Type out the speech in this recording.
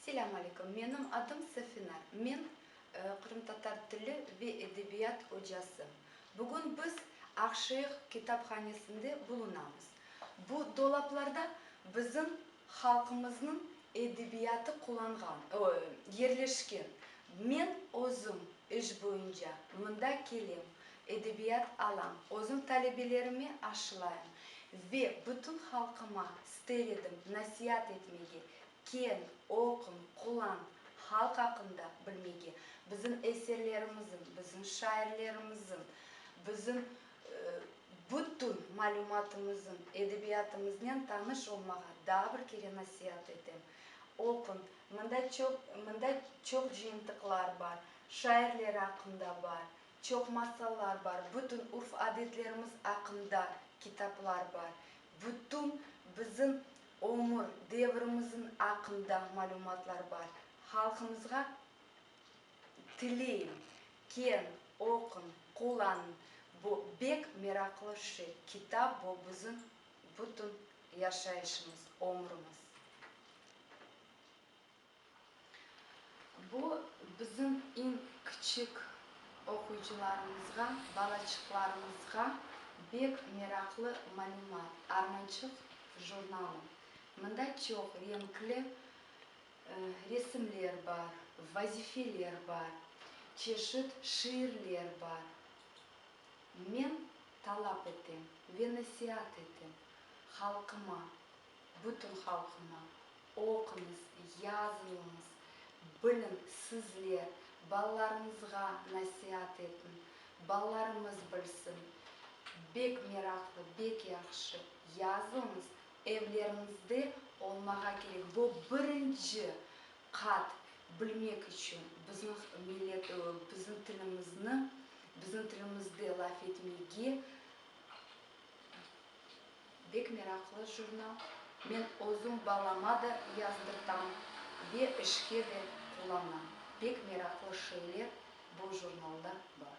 Selâm aleykum, menim adım Safina, men qırımtatar tili ve edebiyat ocası. Bugün biz Aqşeıq kitaphanesinde bulunamız. Bu dolaplarda bizim halqımıznıñ edebiyatı qulanğan, yerleşken. Men özüm iş boyunca mında kelem, edebiyat alam, özüm talebelerime aşılayım ve bütün halqıma ister edim nasiat etmege, kel, oqun, qulan, halq aqqında bilmege, bizim eserlerimizin, bizim şairlerimizin, bizim Bütün malümatımızın, edebiyatımıznen tanış olmağa daa bir kere nasiat etem. Oquñ, mında çoq, mında çoq cıyıntıqlar bar, şairler aqqında bar, çoq masallar bar, bütün urf-adetlerimiz aqqında kitaplar bar, bütün bizim ömür devrimizin aqqında malümatlar bar. Halqımızğa Tileyim, keñ oquñ, qullanıñ, bu bek meraqlı şey, kitap bu bizim bütün yaşayışımız, ömrümiz. Bu bizim iñ kiçik oquyıcılarımızğa, balaçıqlarımızğa bek meraqlı malümat, Armançıq jurnalı. Mında çoq reñkli Resimler bar, vazifeler bar, çeşit şiirler bar. Men talap etem ve nasiat etem halqıma, bütün halqıma, oquñız, yazıñız, biliñ, sizler balalarıñızğa nasiat etiñ, balalarımız bilsin. Bek meraqlı, bek yahşı yazıñız, Evlerinizde olmağa kerek bu birinci qat bilmek içün bizniñ millet bizim tilimizni bizim tilimizde laf etmege bek meraqlı jurnal men özüm balama da yazdırtam ve işke de qullanam bek meraqlı şeyler bu jurnalda bar.